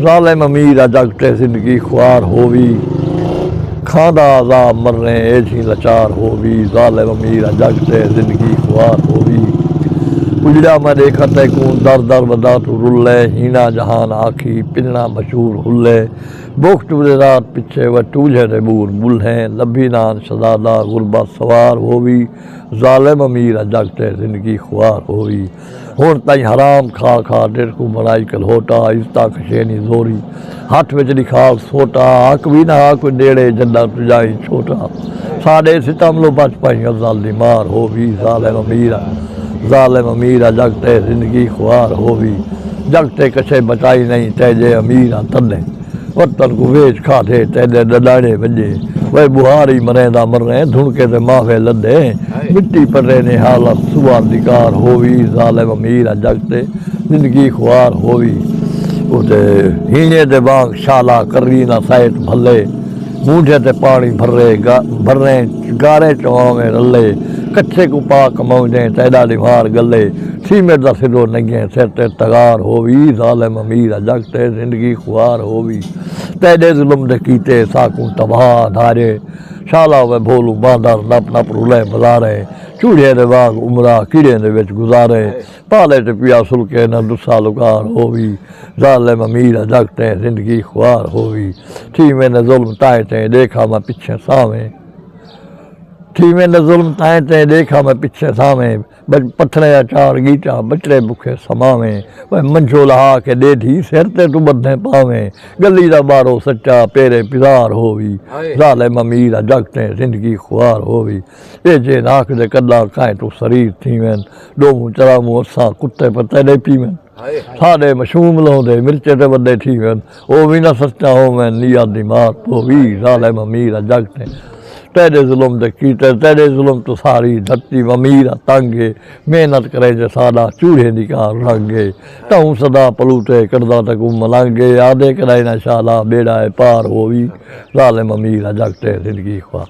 ظالم امیر آج اگٹے زندگی خوار ہووی کھاندا عذاب مرنے ایجھیں لچار ہووی ظالم امیر آج اگٹے زندگی خوار ہووی اجڑیا میں دیکھا تے کون در در ودا تو رلے ہینا جہان آکھی پننا مشہور ہلے بوکھ ٹورے رات پچھے و ٹولھے دے بور بلھیں لبھی نان شہزادہ غربت سوار ہووی ظالم امیر آج اگٹے زندگی خوار ہووی ہن تئیں حرام کھا کھا ڈیرکوں بنائی کلہوٹا عزتاں کھشینی زوری ہتھ وچ ݙکھال سوٹا حق وی نہ ہا کوئی ݙیڑے جݙاں توں ڄائیں چھوٹا ساݙے ستم لو بچ پئیں غزل دی مار ہو وی ظالم امیر آ ظالم امیر آ جڳ تئیں زندگی خوار ہو وی جڳ تئیں کچھے بچائی نئیں تیجے امیر آ تݙیں وطن کوں ویچ کھاتے تیڈے ڈڈاڑے وجے وے بوہار ای مریں دا مریں دھنکے تے ماوے لدے مٹی پٹے نی حالت سوار دی کار ہووی ظالم امیر آ جگ تے زندگی خوار ہووی او تے ہینے دے وانگ شالا کری نہ سائت بھلے مونڈھے تے پانی بھرے بھریں گارے چواویں رلے کچھے کوں پاک موجیں تیڈا ڈیوار گلے۔ سیمٹ دا سلو نگیں سر تے تغار ہووی ظالم امیر ء جگ تے زندگی خوار ہووی تیڈے ظلم دے کیتے ساکوں تباہ دھارے شالا وے بھولوں باندر نپ نپ رلیں بزارے چوڑھے دے واگ عمرا کیڑیں دے وچ گزارے پالے تے پیا سلکے نہ ڈسا لکار ہووی ظالم امیر ء جگ تے زندگی خوار ہووی تھی ویندے ظلم تائیں تیں ڈیکھا میں پچھیں ساویں تھی ویندے ظلم تائیں تیں ڈیکھا میں پچھیں ساویں۔ بچ پتھریں یا چار گیٹا بچڑے بکھے سماویں وے منجھو لہا کے ڈے دھی سر تے توں بدھیں پاویں گلی دا بارو سچا پیرے پزار ہووی ظالم امیر آ جگ تیں زندگی خوار ہووی اے جے راکھ دے کڈا کائیں توں سریر تھیون ڈوموں چراووں اساں کتے پر تیڈے پیون۔ ساݙے مشوم لہندے مرچے تے وݙے تھیون او وی نہ سچا ہوون نیات دی مار تو وی ظالم امیر ا جگ تے تیݙے ظلم دے کیتے تیݙے ظلم توں ساری دھرتی و امیر ا تنگ اے محنت کریں جے ساݙا چوڑھے دی کار رنگ اے تہوں صدا پلوٹے کݙدا تکوں ملنگ اے آہدے کݙائیں نہ شالا ٻیڑا اے پار او وی ظالم امیر ا جگ تے زندگی خوار۔